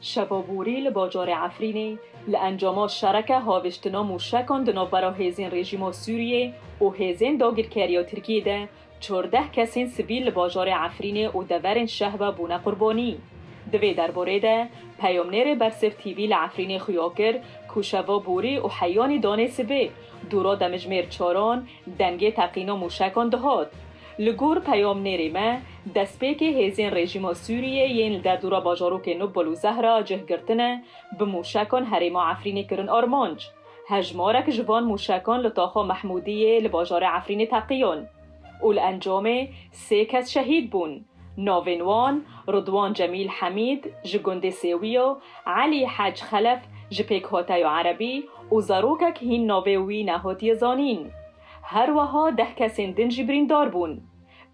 Şeva borî li bajarê Efrînê li encama şereke haviştina mûşekan di navbera hêzên rejîma Sûriyê û hêzên dagirkeriya Tirkiyê de çardeh kesên sivîl li bajarê Efrînê û deverên şehve bûne qurbanî. Di vê derbarê de peyamnêrê Bersif TV li Efrînê xuya kir ku şeva borî û heyanî danê sivê dûra demijmêr çaran Dengê teqîn û mûşekan dihot. Li gor peyamnêrê me, destpêkê hêzên rejîma Sûriyê yên li derdora bajarokên Nubul û Zehra cih girtine, bi mûşekan herêma Efrînê kirin armanc. Hejmarek ji van mûşekan li taxa Mehmûdiyê li bajarê Efrînê teqiyan û li encamê sê kes şehîd bûn. Navên wan, Ridwan Cemîl Hemîd, ji gundê Sêwiyo, Elî Hec Xelef, ji Pêkhoteyo Erebî û zarokek hîn navê wî nehotiye zanîn. Her weha deh kesên din jî birîndar bûn.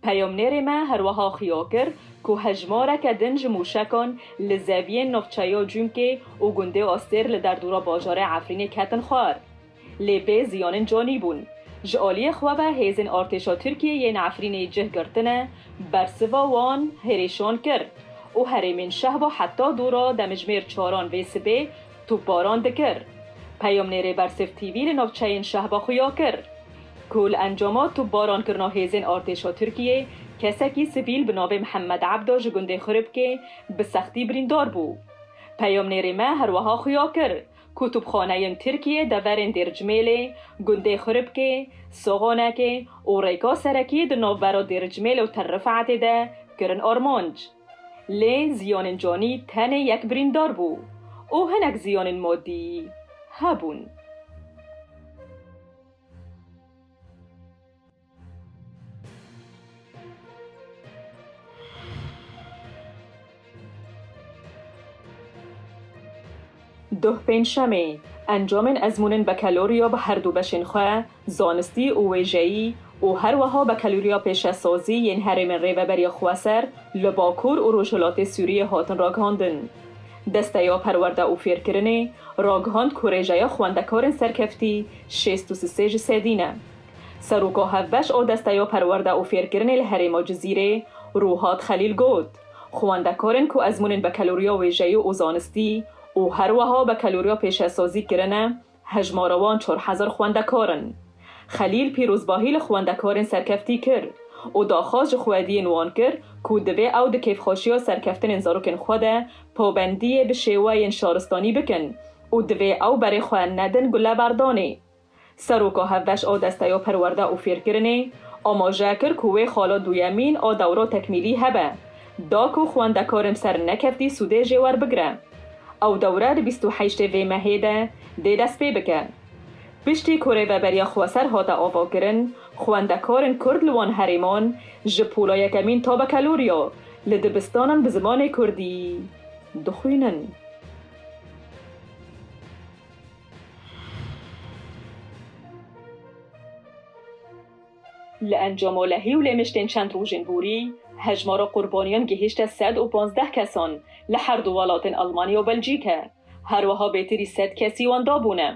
Peyamnêrê me her weha xuya kir ku hejmareke din ji mûşekan li zeviyên navçeya Cûmkê û gundê Astêr li derdora bajarê Efrînê ketin xwar. Lê bê ziyanên canî bûn. Ji aliyê xwe ve hêzên artêşa Tirkiyê yên Efrînê cih girtine, bersiva wan hêrişan kir û herêmên Şehba heta dûra demijmêr çaran vê sibê topbaran dikir. Peyamnêrê Bersif TV li navçeyên Şehba xuya kir ku li encama topbarankirina hêzên artêşa Tirkiyê kesekî sivîl bi navê Mihemed Ebda ji gundê Xuribkê bi sextî birîndar bû. Peyamnêrê me herweha xuya kir Kutubxaneyên Tirkiyê deverên Dêrcimêlê, gundê Xuribkê, Soxonekê û rêka serekî di navbera Dêrcimêl û Tel Rifetê de kirin armanc. Lê ziyanên canî tenê yek birîndar bû û hinek ziyanên madî hebûn. Duh Pêncşemê, Encamên Ezmûnên Bekaloriya bi herdû beşên xwe, Zanistî û Wêjeyî û her wiha Bekaloriya Pêşesazî yên Herêmên Rêveberiya Xweser li Bakur û Rojhilatê Sûriyê hatin ragihandin. Desteya Perwerde û Fêrkirinê ragihand ku rêjeya xwendekarên serkeftî şêst û sisê ji sedî ne. Seroko hevbeş o desteyo perwerde û fêrkirinê li herêmo Cizîrê Rûhat Xelîl got, Xwendekarên ku ezmûnên bekelûriya wêjeyî û zanistî û herweha bekelûriya pêşesazî kirine hejmara wan çar hezar xwendekar in. Xelîl pîrozbahî li xwendekarên serkeftî kir û daxwaz ji xwediyên wan kir ku divê ew di kêfxweşiya serkeftinên zarokên xwe de pabendiyê bi şêweyên şaristanî bikin û divê ew berê xwe nedin guleberdanê. Seroka hevbeş a Desteya Perwerde û Fêrkirinê amaje kir ku wê xala duyemîn a dewra tekmîlî hebe, da ku xwendekarên sernekeftî sûdê jê werbigire. Ew dewre di bîst û heştê vê mehê de dê destpê bike. Piştî ku rêveberiya xweser hate avakirin, xwendekarên kurd li wan herêman ji pola yekemîn ta bekaloriya li dibistanan bi zimanê kurdî dixwînin. Li encama lehî û lêmiştên çend rojên borî, hejmara qurbaniyan gihîşte sed û pazdeh kesan li her du welatên Elmanya û Belcîke. Her wiha bêtirî sed kesî wan dabûne.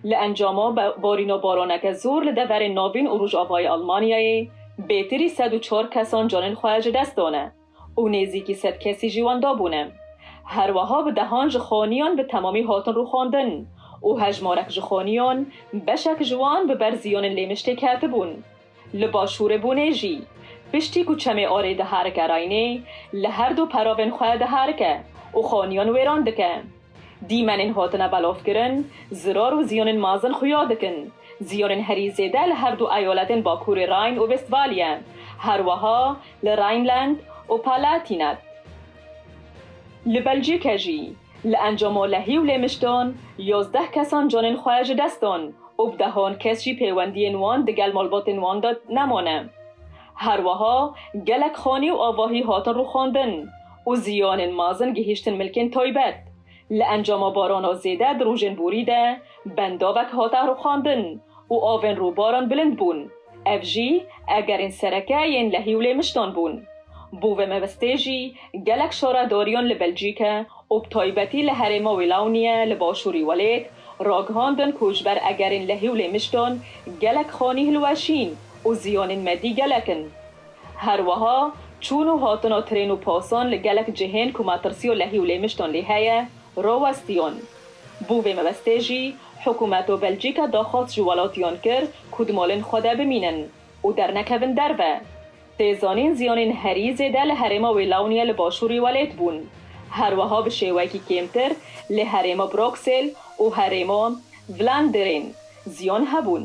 Li encama barîna baraneke zor li deverên navîn û rojavayê Elmanyayê, bêtirî sed û çar kesan canên xwe ji dest dane. û nêzîkî sed kesî jî wan dabûne. Her weha bi dehan ji xaniyan bi temamî hatin rûxandin û hejmarek ji xaniyan beşek ji wan bi ber ziyanên lê miştê ketibûn. Li başûrê Bûnê jî piştî ku çemê arê diherike Raynê li her du peravên xwe diherike û xaniyan wêran dike. Dîmenên hatine belavkirin, zirar û ziyanên mezin xuya dikin. Ziyanên herî zêde li herdu eyaletên Bakurê Rhine û Westfalye, herweha li Rhineland û Palatinat. Li Belcîke jî li encama lehî û lêmiştan yazdeh kesan canên xwe ji dest dan û bi dehan kes jî pêwendiyên wan digel malbatên wan de nemane. Her weha gelek xanî û avahî hatin rûxandin û ziyanên mezin gihîştin milkên taybet. Li encama barana zêde di rojên borî de bendavek hate rûxandin û avên rûbaran bilind bûn. Ev jî egerên sereke yên lehî û lêmiştan bûn. Bo vê mebestê jî gelek şaredariyan li Belcîke û bi taybetî li herêma Wîlawniye li başûrî welêt ragihandin ku ji ber egerên lehî û lêmiştan gelek xanî hilweşîn Û zîyonên me dî gelek in. Her wiha çûn û hatina trên û pasan li gelek cihên ku matirsiya lehî û lêmiştan lê heye, rawestiyan. Bo vê mebestê jî hikûmeta Belcîka daxwaz ji welatiyan kir ku di malên xwe de bimînin û dernekevin derve. Tê zanîn zîyanên herî zêde li herêma Wêlawniye li başûrî welêt bûn. Her wiha bi şêwekî kêmtir li herêma Broksêl û herêma Vlaanderên zîyan hebûn.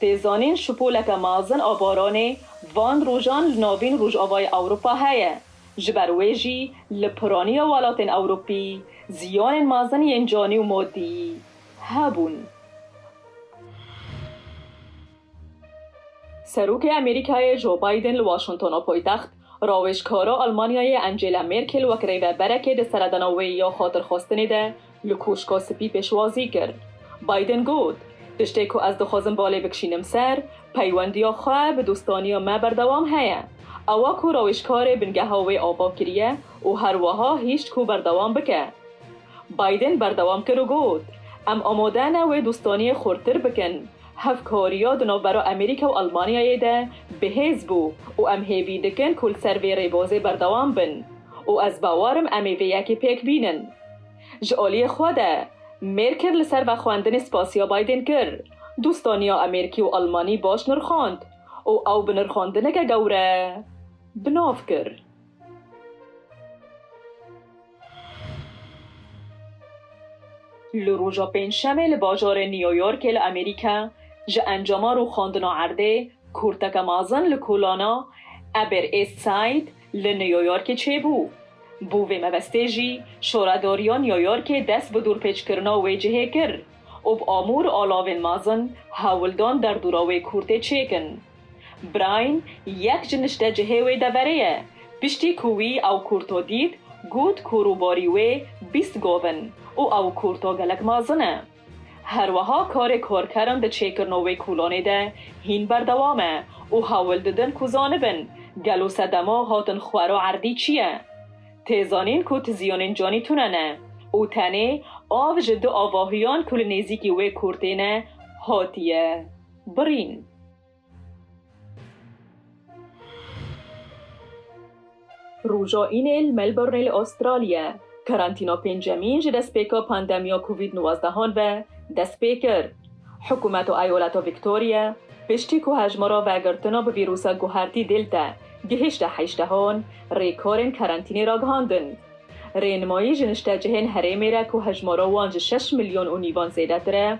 Tê zanîn şupoleke mezin a baranê van rojan li navîn rojavayê Ewropa heye, ji ber wê jî li piraniya welatên Ewropî ziyanên mezin yên canî û madîyî hebûn. Serokê Amerîkayê Joe Biden li Washingtona paytext Rawêjkara Almanyayê Angela Merkel wek rêveberekê di seredana wê ya xatirxwestinê de li Koşka Spî pêşwazî kir. Biden got, Tiştê ku ez dixwazim balê bikişînim ser, peywendiya xwe bi dostaniya me berdewam heye. Ewa ku rawêjkarê bingeha wê ava kiriye û her wiha hişt ku berdewam bike. Biden berdewam kir û got, Em amade ne wê dostaniyê xurttir bikin, Hevkariya di navbera Amerîka û Elmanyayê de bihêz bû û em hêvî dikin ku li ser vê rêbazê berdewam bin û ez bawar im em ê vê yekê pêk bînin. Ji aliyê xwe de, Mêrkel li ser vexwendinê spasiya Biden kir, dostaniya Amerîkî û Elmanî baş nirxand û ew bi nirxandineke gewre bi nav kir. Li roja pêncşemê li bajarê New Yorkê li Amerîka ji encama rûxandina erdê kurteke mezin li kolana Upper East Side li New Yorkê çêbû. Bo vê mebestê jî şaredariya New Yorkê dest bi dorpêçkirina wê cihê kir û bi amûr alavên mezin hewldan derdora wê kurtê çêkin. Brian, yek ji nişte cihê wê deverê ye. Piştî ku wî ew kurto dît, got ku rûborî wê bîst gov in û ew kurto gelek mezin e. Her weha karê korkeran di çêkirno wê kulonê de hîn berdewam e û hewil didin ku zanibin gelo sedema hatin xwera erdî çi ye. Tê zanîn ku tiziyonên canî tune ne û tenê av ji du avahiyan ku li nêzîkî wê kurtê ne hatiye. Birîn. Roja Înê li Melbourneê li Astralya, karantîna pêncemîn ji destpêka pandemiya Covid nuvazdehan ve dest pê kir. Hikûmeta Eyaleta Victoria, piştî ku hejmara vegirtina bi vîrûsa guhertî Delta gihîşte heştehan, rêkarên karantînê ragihandin. Rênimayî ji niştecihên herêmê re ku hejmara wan ji şeş milyon û nîvan zêdetir e,